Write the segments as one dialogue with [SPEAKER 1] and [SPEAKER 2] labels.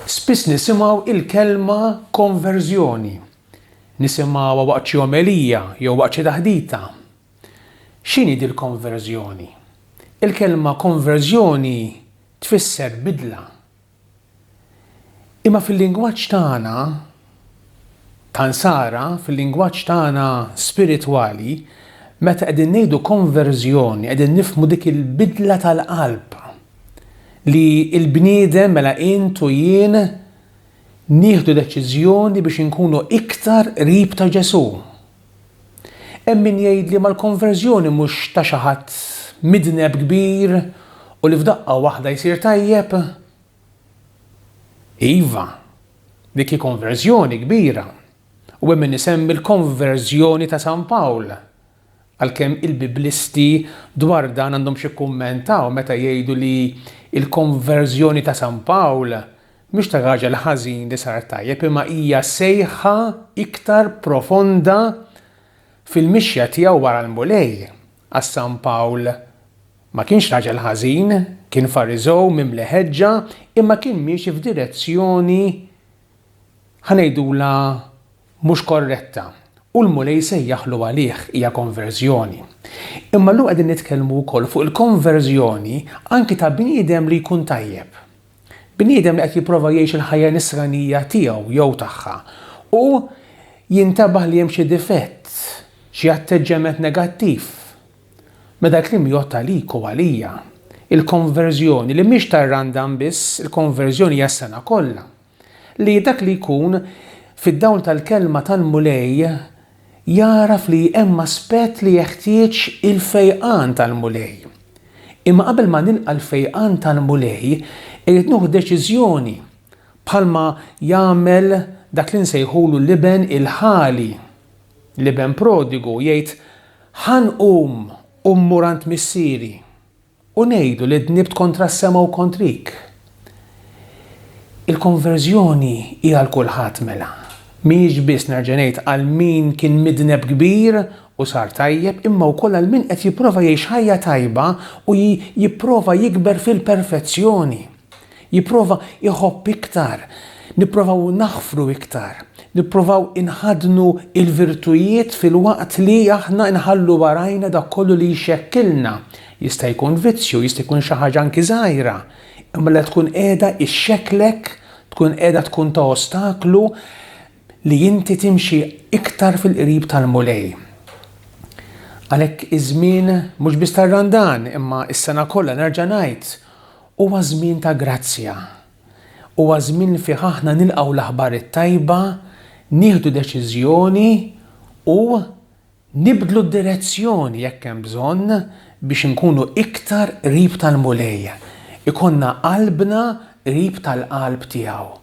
[SPEAKER 1] Spiss nisimgħu il-kelma konverżjoni. Nisimgħuha waqt xi omelija jew waqt xi taħdita. X'inhi dil konverżjoni? Il-kelma konverżjoni tfisser bidla, Imma fil-lingwaġġ tagħna ta' Nsara, fil-lingwaġġ tagħna spiritwali, meta qegħdin ngħidu konverżjoni qegħdin nifhmu dik il-bidla tal-qalb li l-bniedem mela int u jien nieħdu deċiżjoni biex inkunu iktar qrib ta' Ġesù. Hemm min jgħidli ma l-konverżjoni mhux ta' xi ħadd midneb kbir u li f'daqqa waħda jsir tajjeb? Iva, dik hi konverżjoni kbira u hemm min isemmi l-konverżjoni ta' San Pawl, għalkemm il-Biblisti dwar dan għandhom x'jikkummentaw meta jgħidu li l-konverżjoni ta' San Pawl Mhix ta' raġel ħażin li sar tajjeb imma hija sejħa iktar profonda fil-mixja tiegħu wara l-Mulej, għax San Pawl ma kienx raġel ħażin, kien Fariżew mimli ħeġġa imma kien miexi f'direzzjoni ħa ngħidulha mhux korretta u l-Mulej sejjaħlu għalih, hija konverżjoni. Imma llum qegħdin nitkellmu wkoll fuq il-konverżjoni anki ta' bniedem li jkun tajjeb. Bniedem li qed jipprova jgħix il-ħajja nisranija tiegħu jew tagħha u jintabaħ li hemm xi difett, xi atteġġjament negattiv. Mela dal-kliem jgħodd għalik u għalija. Il-konverżjoni, li mhix ta' randam biss, il-konverżjoni hija s-sena kollha. Li dak li jkun, fid-dawl tal-kelma tal-Mulej, jagħraf li hemm aspett li jeħtieġ il-fejqan tal-Mulej. Imma qabel ma nilqa' l-fejqan tal-Mulej, irid nieħu deċiżjoni, bħalma jagħmel dak li nsejħulu l-iben il-ħali, l-iben prodigu, jgħid, Ħa nqum u mmur għand missieri. U ngħidu li dnibt kontra s-sema u kontrik. Il-konverżjoni hi għal kulħadd mela. Mhijiex biss, nerġa' ngħid, għal min kien midneb kbir u sar tajjeb, imma wkoll għal min qed jipprova jgħix ħajja tajba u jipprova jikber fil-perfezzjoni. Jipprova jħobb iktar, nipprovaw naħfru iktar, nipprovaw inħaddnu l-virtujiet filwaqt li aħna nħallu warajna dak kollu li jxekkilna. Jista' jkun vizzju, jista' jkun xi ħaġa anki żgħira, imma li tkun qiegħda xxekklek, tkun qiegħda tkun ta' ostaklu li inti timxi iktar fil-qrib tal-Mulej. Għalhekk iż-żmien mhux biss tar-Randan imma s-sena kollha nerġa' ngħid Huwa żmien ta' grazzja. Huwa żmien li fih aħna nilqgħu l-aħbar it-tajba, nieħdu deċiżjoni u nibdlu d-direzzjoni jekk hemm bżonn biex inkunu iktar qrib tal-Mulej, ikollna qalbna qrib tal-qalb tiegħu.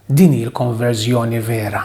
[SPEAKER 1] Din hi l-konverżjoni vera.